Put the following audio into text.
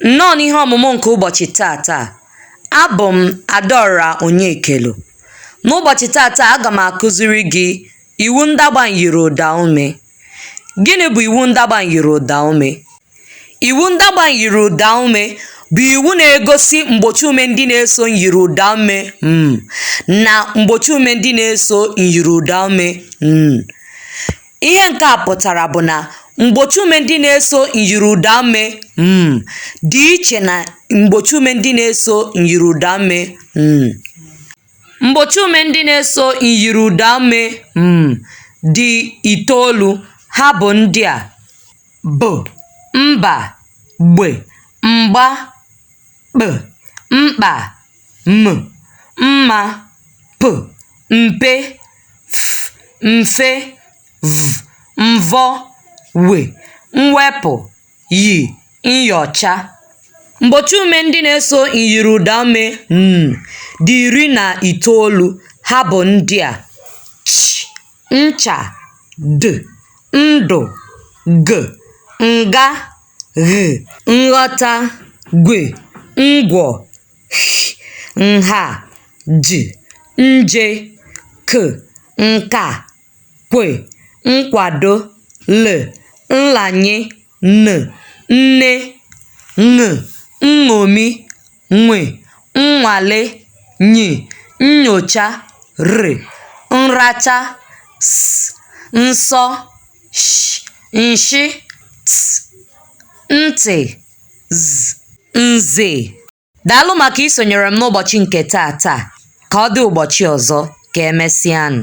Nnọọ n'ihe ọmụmụ nke ụbọchị taa taa, abụ m Adaọra Onyekelu. N'ụbọchị taa taa, aga m akụziri gị iwu ndagba myiriụdaume. Gịnị bụ iwu ndagba myiriụdaume? Iwu ndagba myiriụdaume bụ iwu na-egosi mgbochiume ndị na-eso myiriụdaume m na mgbochiume ndị na-eso myiriụdaume n. Ihe nke a pụtara bụ na mgbochiume ndị na-eso myiriụdaume m dị iche na mgbochiume ndị na-eso myiriụdaume n. Mgbochiume ndị na-eso myiriụdaume m dị itoolu. Ha bụ ndị a: b, mba, gb, mgba, kp mkpa m mma p mpe f mfe v mvọ w mwepụ y myọcha mgbochiume ndị na-eso myiriụdaume n dị iri na itoolu ha bụ ndị a ch ncha d ndụ g nga gh, nghọta, gwe, ngwọ, sh, nha, j, nje, k, nka, kwe, nkwado, l, nlanye, n, nne, ṅ, nṅomi, nwe, nnwale, ny, nnyocha, r, nracha, s, nsọ sh nshị t ntị z nze daalụ maka isonyere m n'ụbọchị nke taa taa ka ọ dị ụbọchị ọzọ ka emesịanụ